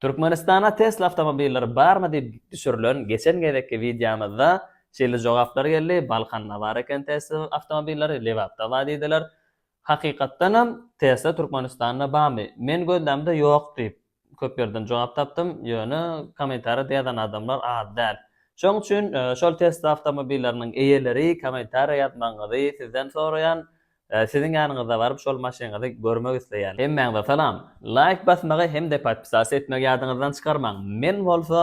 Türkmenistana Tesla awtomobilleri barmy diýip düşürilen geçen gezekki wideomyzda şeýle jogaplar geldi, Balkanda bar eken Tesla awtomobilleri, Lebapda bar diýdiler. Hakykatdanam Tesla Türkmenistanda barmy? Men gözlämde ýok diýip köp ýerden jogap tapdym, ýöne kommentariýada ýazan adamlar az däl. Şoň üçin şol Tesla awtomobilleriniň eýeleri kommentariýa ýazmagyňyzy sizden soraýan. Siziň ýanyňyza baryp şol maşynyňyzy görmek isleýän. Hemmäňize salam. Laýk basmagy hem-de podpisas etmegi ýadyňyzdan çykarmaň. Men bolsa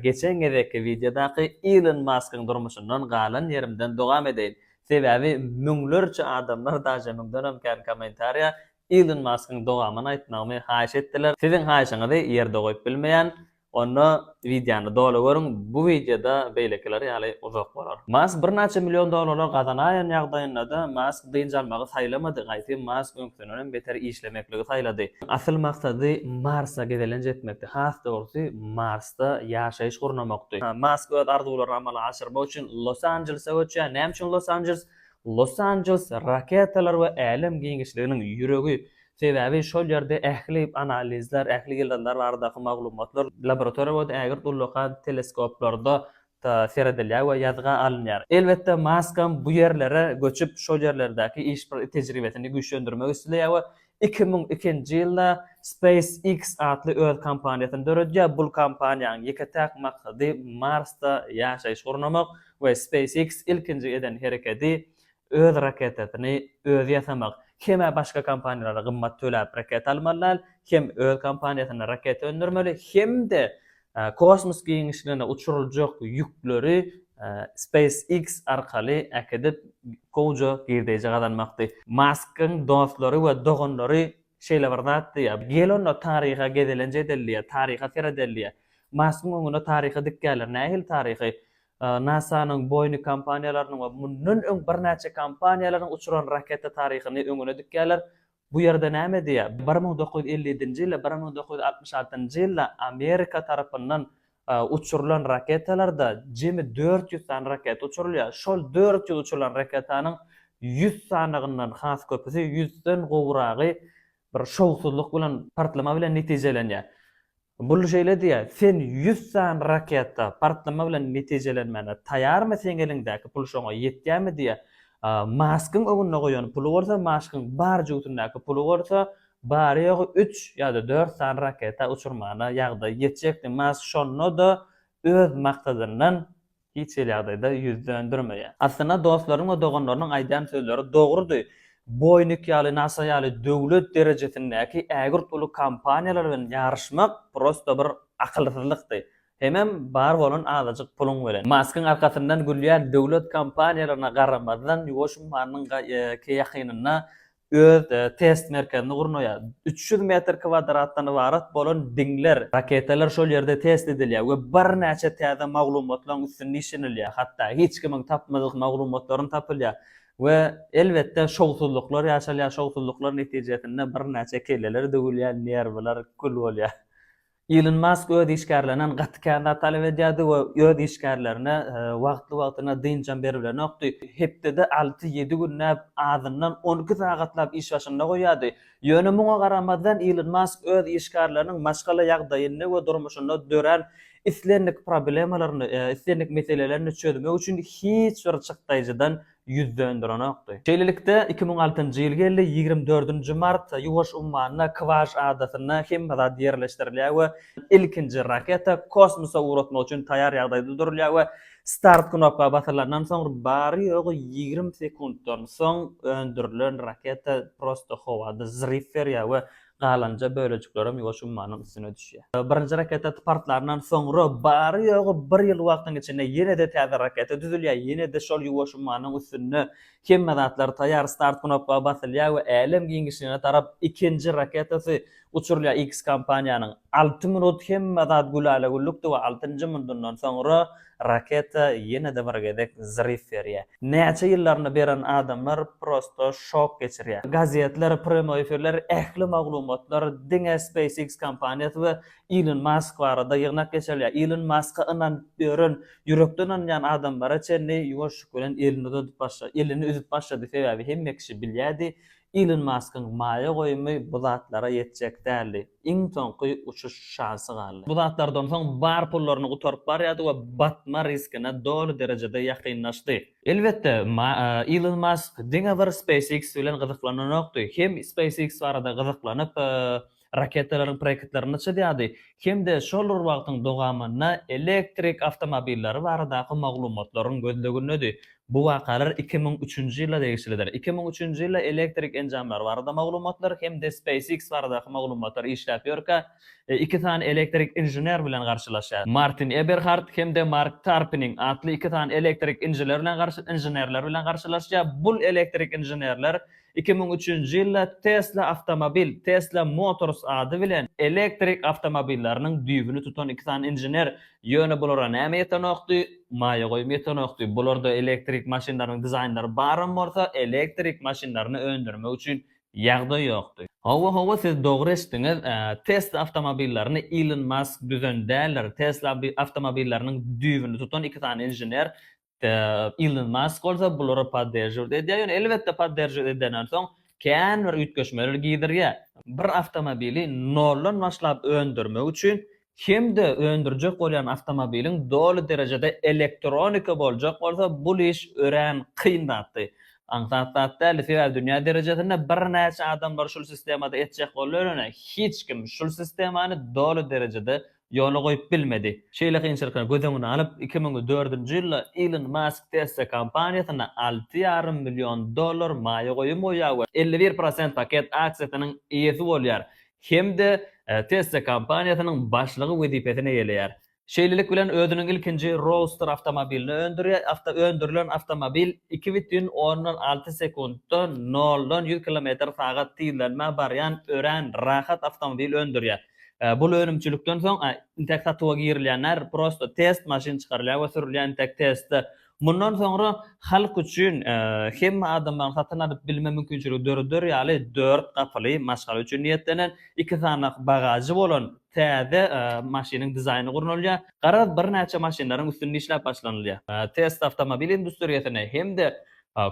geçen gezekki wideodaky Ilon Maskyň durmuşyndan galan ýerimden dowam edeýin. Sebäbi müňlerçe adamlar daže müňdenem kän kommentariýa Ilon Maskyň dowamyny aýtmagymy haýyş etdiler. Siziň haýyşyňyzy ýerde goýup bilmeýän. Onda wideony doly görüň, bu wideoda beýlekiler ýaly uzak bolar. Mask birnäçe million dollarlar gazanaýan ýagdaýynda-da Mask dynç almagy saýlamady, gaýty Mask öňkidenem beter işlemekligi saýlady. Asyl maksady Marsa gezelenç etmekdi, has dogrusy Marsda ýaşaýyş gurnamakdy. Mask öz arzuwlaryny amala aşyrmak üçin Los Anjelese göçýär. Näme üçin Los Anjeles? Los Anjeles raketalar we älem giňişliginiň ýüregi Sebäbi şol ýerde ähli analizler, ähli ýyldyzlar baradaky maglumatlar laboratoriýa we ägirt ullakan teleskoplarda seredilýär we ýazga alynýar. Elbetde, Maskam bu ýerlere göçüp, şol ýerlerdäki iş tejribesini güýçlendirmek isleýär we iki müň ikinji ýylda SpaceX atly öz kompaniýasyny döredýär. Bul kompaniýanyň ýeke-täk maksady Marsda ýaşaýyş gurnamak we SpaceX ilkinji eden herekedi öz raketasyny özi ýasamak, hem-ä başga kompaniýalara gymmat töläp raketa almaly däl, hem öz kompaniýasynda raketa öndürmeli, hem-de kosmos giňişligine uçuryljak ýükleri SpaceX arkaly äkidip, gowja girdeýji gazanmakdy. Maskyň dostlary we doganlary şeýle bir zat diýýär, Gel onda taryha gezelenç edelidiýýär, taryha seredeldiýýär. Maskyň öňüne taryhy dikýärler, nähili taryhy? NASA-nyň, Boeing kompaniýalarynyň we mundan öň birnäçe kompaniýalaryň uçuran raketa taryhyny öňüne dikýärler. Bu ýerde näme diýýär? Bir müň dokuz ýüz elli ýedinji ýyl, bir müň dokuz ýüz altmyş altynjy ýylda Amerika tarapyndan uçurylan raketalarda jemi dört ýüz sany raketa uçurylýar. Şol dört ýüz uçurylan raketanyň ýüz sanygyndan has köpüsi, ýüzden gowragy Bir şowsuzlyk bilen, partlama bilen netijelenýär. Bull şeýle diýýär, Sen ýüz sany raketa, partlama bilen netijelenmäne taýarmy, seň eliňdäki pul şoňa ýetýärmi diýýär. Maskyň öňünde goýan puly bolsa, Maskyň bar jübütindäki puly bolsa, bary-ýogy üç ýa-da dört sany raketa uçurmana ýagdaý ýetjekdi. Mask şonda-da öz maksadyndan Hiç hili ýagdaýda ýüz döndermeýär. Aslynda dostlarynyň we doganlarynyň aýdýan sözleri dogrudy. Boýnik ýaly, nasa ýaly döwlet derejesindäki ägirt uly kompaniýalar bilen ýaryşmak prosta bir akylsyzlykdy. Hemem bar bolan azajyk puluň bilen. Maskyň arkasyndan gülýän döwlet kompaniýalaryna garamazdan, ýuwaş ummanynyň ýakynynda öz test merkezini gurnaýar. Üç ýüz metr kwadratdan ybarat bolan diňler, raketalar şol ýerde test edilýär we birnäçe täze maglumatlaryň üstünde işlenilýär, hatda hiç kimiň tapmadyk maglumatlaram tapylýar we elbetde şowsuzlyklar ýaşalýar, şowsuzlyklar netijesinde birnäçe kelleler döwülýär, nerwler kül bolýar. Ilon Mask öz işgärlerinden gaty kän zat talap edýärdi we öz işgärlerine wagtly-wagtyna dynçam beribilenokdy. Hepdede alty-ýedi günläp, azyndan on iki sagatlap iş başynda goýýardy. Ýöne muňa garamazdan, Ilon Mask öz işgärleriniň maşgala ýagdaýyny we durmuşynda dörän islendik problemalaryny, islendik meselelerini çözmek üçin hiç bir çykdaýjydan ýüz dönderenokdy. Şeýlelikde, iki müň altynjy ýyl geldi, ýigrimi dördünji mart, Ýuwaş ummanyna, Kwas adasynda hemme zat ýerleşdirilýär we ilkinji raketa kosmosa ugratmak üçin taýýar ýagdaýda durulýar we start knopka basylandan soň, bary-ýogy ýigrimi sekuntdan soň öndürilen raketa prosto howada zryw berýär we Galanja bölejiklerem ýuwaş ummanyň üstüne düşýär. Birinji raketa partlandan soňra bary-ýogy bir ýyl wagtyň içinde ýene-de täze raketa düzülýär, ýene-de şol ýuwaş ummanyň üstünde hemme zatlar taýýar, start knopka basylýar we älem giňişligine tarap ikinji raketasy uçurylýar. X kompaniýanyň alty minut hemme zat gülälä-güllükdi we altynjy minudyndan soňra Raketa ýene-de bir gezek zryw berýär. Näçe ýyllaryny beren adamlar prosto şok geçirýär. Gazetler, prýamoý efirler, ähli maglumatlar diňe SpaceX kompaniýasy we Ilon Mask barada ýygnak geçirilýär. Ilon Maska ynanyp ýören, ýürekden ynanýan adamlara çenli ýuwaşlyk bilen elini uzadyp başlady. Elini üzüp başlady, sebäbi hemme kişi bilýärdi, Ilon Maskyň maýa goýumy bu zatlara ýetjek däldi. Iň soňky uçuş şansy galdy. Bu zatlardan soň bar pullaryny gutaryp barýardy we batma riskine doly derejede ýakynlaşdy. Elbetde, Ilon Mask diňe bir SpaceX bilen gyzyklananokdy. Hem SpaceX barada gyzyklanyp, raketalaryň projektlerini çyzýardy hem-de şol bir wagtyň dowamynda elektrik awtomobilleri baradaky maglumatlaryň gözlegindedi. Bu wakalar iki müň üçünji ýyla degişlidir. Iki müň üçünji ýylda elektrik enjamlary barada maglumatlar hem-de SpaceX baradaky maglumatlar işläp ýörkä, iki sany elektrik inžener bilen garşylaşýar. Martin Eberhard hem-de Mark Tarpiniň atly iki sany elektrik inžener bilen inženerler bilen garşylaşýar. Bul elektrik inženerler Iki müň üçünji ýylda Tesla Awtomobil, Tesla Motors ady bilen elektrik awtomobilleriniň düýbüni tutan iki sany inžener, ýöne bulara näme ýetenokdy? Maýa goýum ýetenokdy. Bularda elektrik maşynlarynyň dizaýnlary baram bolsa, elektrik maşynlaryny öndürmek üçin ýagdaý ýokdy. Hawa, hawa, siz dogry eşitdiňiz. Tesla awtomobillerini Ilon Mask düzen däldir. Tesla awtomobilleriniň düýbüni tutan iki sany inžener, Ilon Mask bolsa bulara podderžiwt edýär, ýöne elbetde podderžiwt edenden soň kän bir üýtgeşmeler gidirýär. Bir awtomobili noldan başlap öndürmek üçin hem-de öndürjek bolýan awtomobiliň doly derejede elektronika boljak bolsa bul iş örän kyn zatdy. Aňsat zat däldi, sebäbi dünýä derejesinde birnäçe adamlar şul sistemada etjek boldy, ýöne hiç kim şul sistemany doly derejede ýola goýup bilmedi. Şeýle kynçylyklary göz öňüne alyp, iki müň dördünji ýylda Ilon Mask Tesla kompaniýasyna alty ýarym million dollar maýa goýum goýýar we elli bir prosent paket aksiýasynyň eýesi bolýar hem-de Tesla kompaniýasynyň başlygy wezipesini eýeleýär. Şeýlelik bilen özüniň ilkinji Roadster awtomobilini öndürýär, öndürilen awtomobil iki bütin ondan alty sekuntda noldan ýüz kilometr sagat tizlenmä barýan örän rahat awtomobil öndürýär. Bul önümçilikden soň intek satuwa girilýänler prosto test maşyn çykarylýar we sürülýär intek testde mundan soňra halk üçin hemme adamlaryň satyn alyp bilme mümkinçiligi döreder ýaly dört gapyly maşgala üçin niýetlenen iki sanak bagažy bolan täze maşynyň dizaýny gurnalýar. Garaz birnäçe maşynlaryň üstünde işläp başlanylýar. Test awtomobil industriýasyny hem-de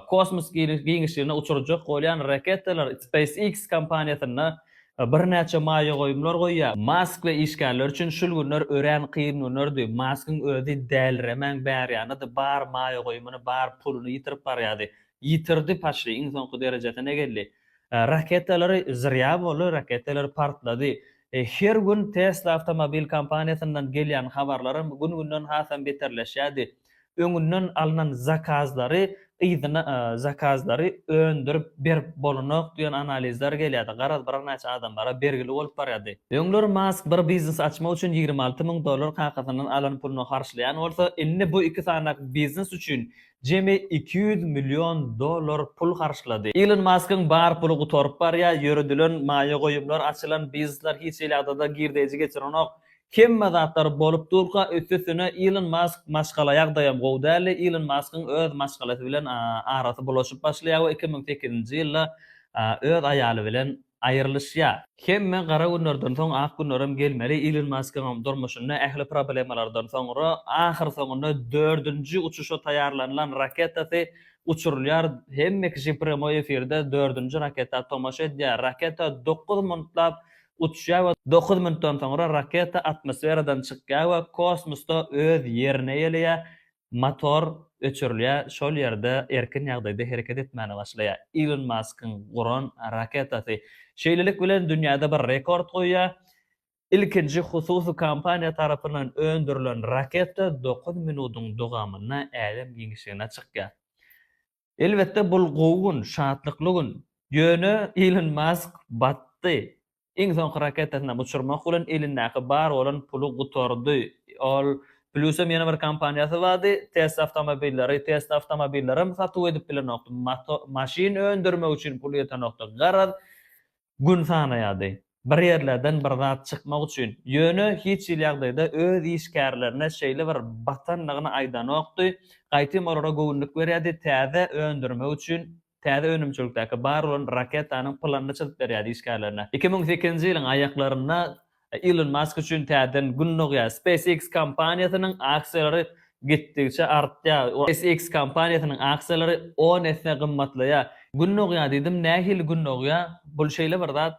Kosmos giňişligine uçurjak bolýan raketalar SpaceX kompaniýasynda birnäçe maýa goýumlar goýýar. Mask we işgärleri üçin şul günler örän kyn günlerdi. Maskyň özi däliremän bärýanydy, bar maýa goýumyny, bar puluny ýitirip barýady. Ýitirdi paçry, iň soňky derejesine geldi. Raketalary zyrýa boldy, raketalar partlady. Her gün Tesla awtomobil kompaniýasyndan gelýän habarlaram gün-günden hasam beterleşýärdi. öňünden alnan zakazlary yzyna zakazlary öndürip berip bolanok diýen analizler gelýärdi. Garaz, birnäçe adamlara bergili bolup barýardy. Öňler Mask bir biznes açmak üçin ýigrimi alty müň dollar kakasyndan alan puluny harçlaýan bolsa, indi bu iki sanak biznes üçin jemi iki ýüz million dollar pul harçlady. Ilon Maskyň bar puly gutaryp barýar, ýöredilen maýa goýumlar, açylan biznesler hiç hili ýagdaýda girdeýji geçirenok. Hemme zatlar bolup durka üstüsine Ilon Mask maşgala ýagdaýam gowy däldi. Ilon Maskyň öz maşgalasy bilen arasy bulaşyp başlaýar we iki müň sekizinji ýylda öz aýaly bilen aýrylyşýar. Hemme gara günlerden soň ak günlerem gelmeli, Ilon Maskyňam durmuşynda ähli problemalardan soňra ahyr soňunda dördünji uçuşa taýýarlanylan raketasy uçurylýar, hemme kişi premoi efirde dördünji raketa tomaşa edýär, raketa dokuz minutlap uçýar we dokuz minutdan soňra raketa atmosferadan çykýar we kosmosda öz ýerine ýeleýär, motor öçürilýär, şol ýerde erkin ýagdaýda hereket etmäne başlaýar. Ilon Maskyň guran raketasy şeýlelik bilen dünýäde bir rekord goýýar, ilkinji hususy kompaniýa tarapyndan öndürilen raketa dokuz minutyň dowamynda älem giňişligine çykýar. Elbetde bul gowy gün, şatlykly gün. Ýöne Ilon Mask batdy. Iň soňky raketasynam uçurmak bilen elindäki bar bolan puly gutardy. Ol Plusam ýene bir kompaniýasy bardy, Tesla awtomobilleri. Tesla awtomobillerem satuw edip bilenokdy. Mato maşyn öndürmek üçin puly ýetenokdy. Garaz, Gün sanaýardy. Bir ýerlerden bir zat çykmak üçin. Ýöne hiç hili ýagdaýda öz işgärlerine şeýle bir batandygyny aýdanokdy. Gaýtam olara göwünlik berýärdi, täze öndürmek üçin täze önümçilikdäki bar bolan raketanyň planyny çyzyp berýärdi işgärlerine. Iki müň sekizinji ýylyň aýaklarynda Ilon Mask üçin täzeden gün dogýar. SpaceX kompaniýasynyň aksiýalary gitdigiçe artýar. SpaceX kompaniýasynyň aksiýalary on esse gymmatlaýar. Gün dogýar diýdim, nähili gün dogýar? Bul şeýle bir zat,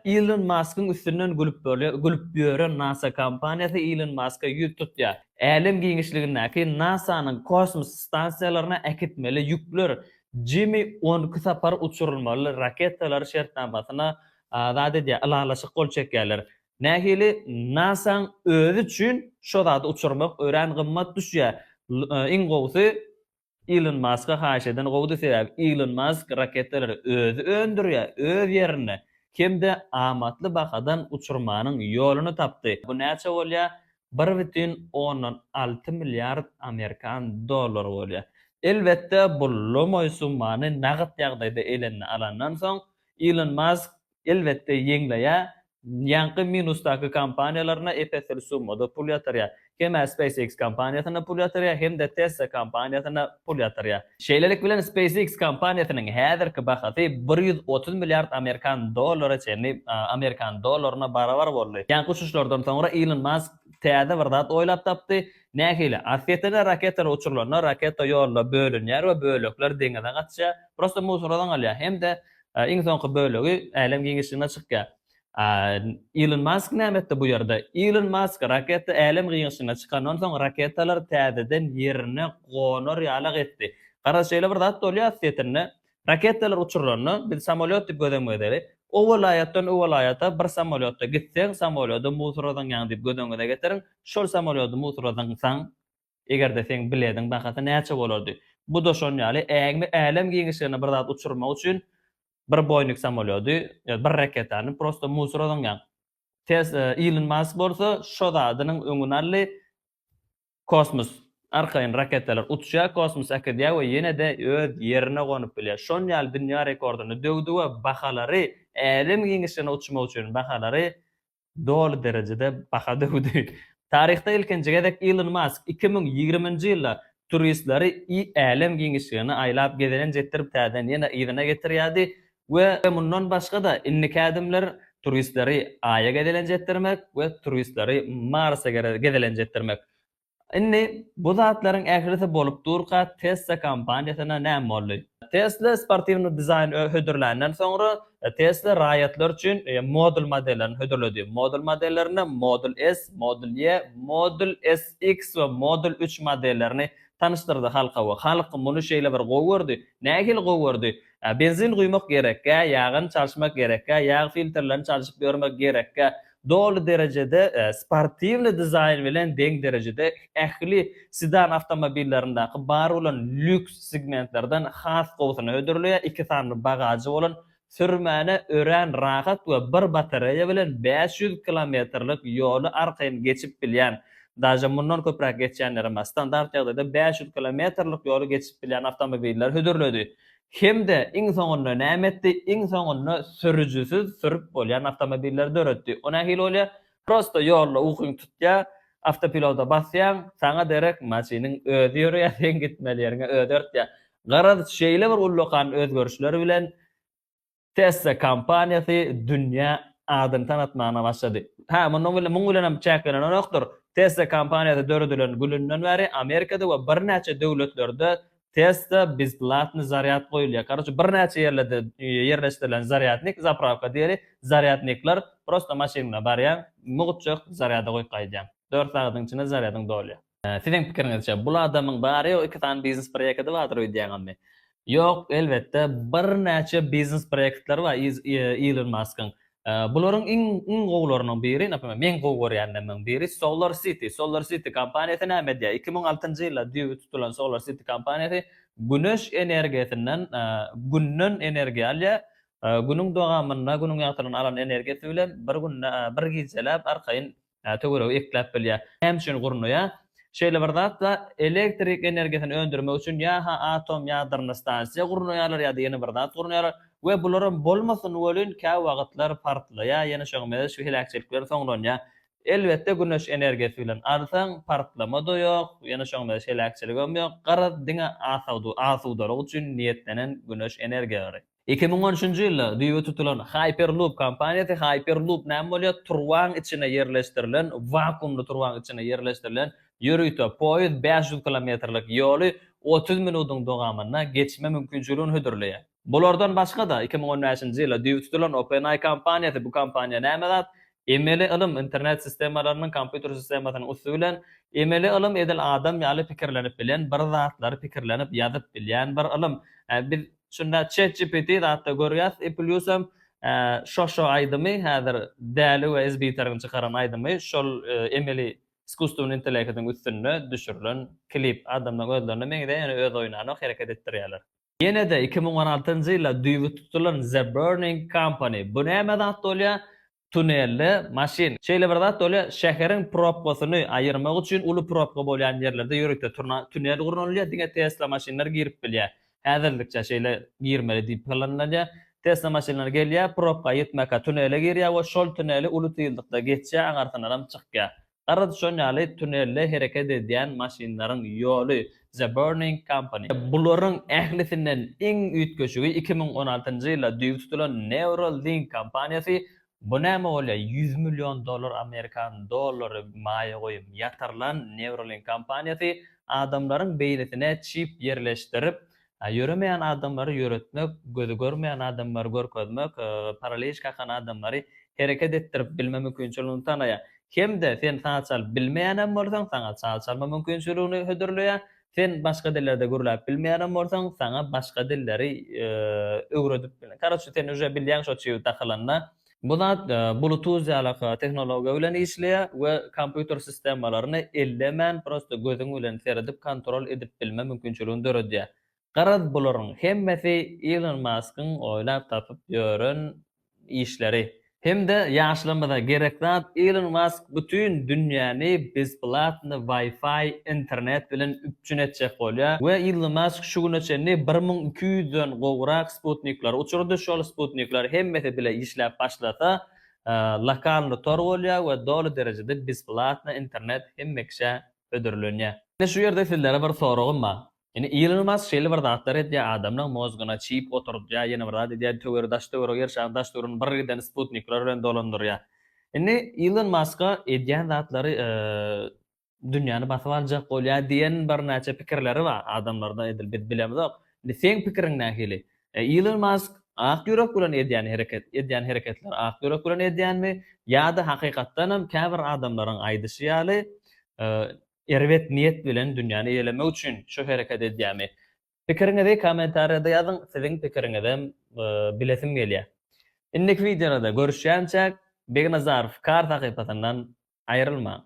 Ilon Maskyň üstünden gülüp bolýar, gülüp ýören NASA kompaniýasy Ilon Maska ýüz tutýar. Älem giňişligindäki NASA-nyň kosmos stansiýalaryna äkitmeli ýükler Jimmy on iki sapar uçurylmaly raketalar şertnamasyna zat edýär, ylalaşyk gol çekýärler. Nähili NASA-nyň özi üçin şo zady uçurmak örän gymmat düşýär. Iň gowusy Ilon Maska haýyş eden gowudy, sebäbi Ilon Mask raketalary özi öndürýär, öz ýerinde hem-de amatly bahadan uçurmanyň ýoluny tapdy. Bu näçe bolýar? Bir bütin ondan alty milliard amerikan dollary bolýar. Elbetde, bu lomoý summany nagt ýagdaýda eline alandan soň, Ilon Mask, elbetde, ýeňleýär. Ýaňky minusdaky kompaniýalaryna ep-esli summada pul ýatyrýar. Hem-ä SpaceX kompaniýasyna pul ýatyrýar, hem-de Tesla kompaniýasyna pul ýatyrýar. Şeýlelik bilen, SpaceX kompaniýasynyň häzirki bahasy bir ýüz otuz milliard amerikan dollary çenli amerikan dollaryna barabar boldy. Ýaňky uçuşlardan soňra Ilon Mask täze bir zat oýlap tapdy, Nähili? Orsýete-de raketalar uçurylanda raketa ýolda bölünýär we bölekler deňize gaçýar, prosta musorodan galýar hem-de iň soňky bölegi älem giňişligine çykýar. A Ilon Mask näme etdi bu ýerde? Ilon Mask raketa älem giňişligine çykandan soň raketalar täzeden ýerine gonar ýalak etdi. Garaz şeýle bir zat bolýar orsýetinde, Raketalar uçurylanda, biz samolýot diýip göz öňüňe getireli. O welaýatdan o welaýata bir samolýotda gitseň, samolýody musurladyňýaň diýip göz öňüňize getiriň. Şol samolýody musurladyňsaň, eger-de seň bilediň bahasy näçe bolardy? Bu-da şon ýaly, ägme älem giňişligine bir zat uçurmak üçin bir Boeing samolýody, ýa bir raketany prosto musurladyňýaň. Tes Ilon Mask bolsa şo zadynyň öňüni aldy. Kosmos, arkaýyn raketalar uçýar, kosmos äkidýär we ýene-de öz ýerine gonup bilýär. Şon ýaly dünýä rekordyny döwdi we bahalary, älem giňişligine uçmak üçin bahalary doly derejede baha döwdi. Taryhda ilkinji gezek Ilon Mask iki müň ýigriminji ýylda turistleri älem giňişligini aýlap gezelenç etdirip täzeden ýene yzyna getirýärdi, We mundan başga-da indiki ädimler turistleri Aýa gezelenç etdirmek we turistleri Marsa gezelenç etdirmek. Indi bu zatlaryň ählisi bolup durka Tesla kompaniýasyna näme boldy? Tesla sportiwny dizaýn hödürländen soňra Tesla raýatlar üçin Model modellerini hödürledi. Model modellerinde Model S, Model Y, Model S, X we Model üç modellerini tanyşdyrdy halka we halk muny şeýle bir gowy gördi. Nähili gowy gördi? Benzin guýmak gerekgä, ýagyny çalşmak gerekgä, ýag filtrlerini çalşyp ýörmek gerekgä, doly derejede sportiwnyý dizaýn bilen deň derejede ähli sedan awtomobillerindäki bar bolan lýuks segmentlerden has gowusyna hödürleýär, iki sany bagažy bolan, sürmäne örän rahat we bir batareýa bilen bäş ýüz kilometrlik ýoly arkaýyn geçip bilýän daže mundan köpräk geçýänlerem bar, standart ýagdaýda bäş ýüz kilometrlik ýoly geçip bilýän awtomobilleri hödürledi. Hem-de iň soňunda näme etdi? Iň soňunda sürüjisiz sürüp bolýan awtomobilleri döretdi. O nähili bolýar? Prosto ýolda ukyň tutýar, awtopiloda basýaň, saňa derek maşynyň özi ýöreýär, seň gitmeli ýeriňe özi örtýär. Garaz, şeýle bir ullakan özgerişler bilen, Tesla kompaniýasy dünýä adyny tanatmagyna başlady. Hä, mundan gülli muň bilen hem çäklenenokdyr. Tesla kompaniýasy döredilen gülünden bäri Amerikada we birnäçe döwletlerde Tesla bezplatny zarýad goýulýar. Karoçe birnäçe ýerlerde ýerleşdirilen zarýadnik, zapravka diýeli, zarýadnikler, prosta maşynyňda barýaň, mugt çög, zarýada goýup gaýdýaň. Dört sagadyň içinde zarýadyň dolýar. Siziň pikiriňizçe, bul adamyň bary ýogy iki sany biznes proýekidi bardyr öýdýäňizmi? Ýok, elbetde, birnäçe biznes proýektleri bar Ilon Maskyň. Bularyň iň iň gowularynyň biri, naprimýer, meň gowy görýänlerimiň biri Solar City. Solar City kompaniýasy näme edýär? Iki müň altynjy ýylda düýbi tutulan Solar City kompaniýasy güneş energiýasyndan, Günden energiýa alýar. Günüň dowamynda, Günüň ýagtylygyny alan energiýasy bilen bir günde, bir gijeläp arkaýyn töweregi ekläp bilýär. Näme üçin gurnaýar? Şeýle bir zat-da, elektrik energiýasyny öndürmek üçin ýa-ha atom ýadrony stansiýa gurnaýarlar, ýa-da ýene bir zat gurnaýarlar we bularam bolmasyn welin, käwagtlar partlaýar, ýene şoň meňzeş şu heläkçilik bilen soňlanýar. Elbetde, güneş energiýasy bilen alsaň, partlama-da ýok, ýene şoň meňzeş heläkçiligem ýok, garaz, diňe asudalyk üçin niýetlenen güneş energiýalary. Iki müň on üçünji ýylda düýbi tutulan Hyperloop kompaniýasy Hyperloop näme bolýar? Turbaň içine ýerleşdirilen, wakuumly turbaň içine ýerleşdirilen ýörite poýiz bäş ýüz kilometrlik ýoly otuz minudyň dowamynda geçme mümkinçiligini hödürleýär. Bulardan başga-da, iki müň on bäşinji ýylda düýbi tutulan OpenAI kompaniýasy, bu kompaniýa näme zat? Emeli ylym internet sistemalarynyň kompýuter sistemasynyň üsti bilen, emeli ylym edil adam ýaly pikirlenip bilen bir zatlary pikirlenip ýazyp bilýän bir ylym. Biz Şunda ChatGPT zatda görýäs i plýus hem şo-şo aýdymy häzir Däli we Sbiteriň çykaran aýdymy şol emeli iskusstwny intelekidiň üstünde düşürilen klip. Adamlaň özlerine meňzeýär ýöne öz oýnanok hereket etdirýärler. Ýenede iki müň on altynjy ýylda düýbi tutulan The Burning Company. Bu näme zat bolýar? tunelde maşyn, şeýle bir zat bolýar, şäheriň propkasyny aýyrmak üçin uly propka bolýan ýerlerde ýörite turna tunel gurnalýar, diňe Tesla maşynlar girip bilýär. Häzirlikçe şeýle girmeli diýip planlanýar. Tesla maşynlary gelýär, propka aýyrtmaka tunele girýär we şol tuneli uly tyzlykda geçýär, aňarsyndanam çykýar. Garaz şon ýaly tunelde hereket edýän maşynlaryň ýoly The Burning Company. Bularyň ählisinden iň üýtgeşigi iki müň on altynjy ýylda düýbi tutulan Neuralink kompaniýasy, bu näme bolýa ýüz million dollar amerikan dollary maýa goýum ýatyrlan Neuralink kompaniýasy adamlaryň beýnisine çip ýerleşdirip Ýöremeýän adamlary ýöretmek, gözi görmeýän adamlary görkezmek, paraliç kakan adamlary hereket etdirip bilme mümkinçiligini tanýar. Hem-de sen saz çalyp bilmeýänem bolsaň, saňa saz çalma mümkinçiligini hödürleýär. Sen başga dillerde gürläp bilmeýänem bolsaň, saňa başga dilleri öwredip, karoçe, sen uje bilýäň şo çygy dakylanda. Bu zat Bluetooth ýaly tehnologiýa bilen işleýär we kompýuter sistemalaryny ellemän prosta gözüň bilen seredip kontrol edip bilme mümkinçiligini döredýär. Garaz bularyň hemmesi Ilon Maskyň oýlap tapyp ýören işleri. Hemde ýaşlarymyza gerek zat Ilon Mask bütin dünýäni bezplatny wi-fi internet bilen üp üçin etjek bolýar we Ilon Mask şu güne çenli bir müň iki ýüz den gowrak sputnikleri uçurdy, şol sputnikler hemmesi bile işläp başlasa, lokalny tor bolýar we doly derejede besplatno internet hemme kişä hödürlenýär. Indi şu ýerde sizlere bir soragym bar. Indi Ilon Mask şeýle bir zatlar edýär, adamlaryň mozgyna çip oturdýar, ýene bir zat edýär, töweri daş-töwerege ýer şaryň daş-töweregini bir giden sputnikler bilen dolandyrýar. Indi Ilon Maska edýän zatlary dünýäni basyp aljak bolýar diýen birnäçe pikirleri bar adamlarda edil biz bilemizok indi seň pikiriň nähili Ilon Mask ak ýürek bilen edýän hereket edýän hereketler ak ýürek bilen edýänmi ýa-da hakykatdanam käbir adamlaryň aýdyşy ýaly erbet niýet bilen dünýäni eýelemek üçin şu hereket edýärmi pikiriňizi kommentariýada ýazyň siziň pikiriňizem bilesim gelýär indiki wideolarda görüşýänçäk Begnazarow kar sahypasyndan aýrylmaň.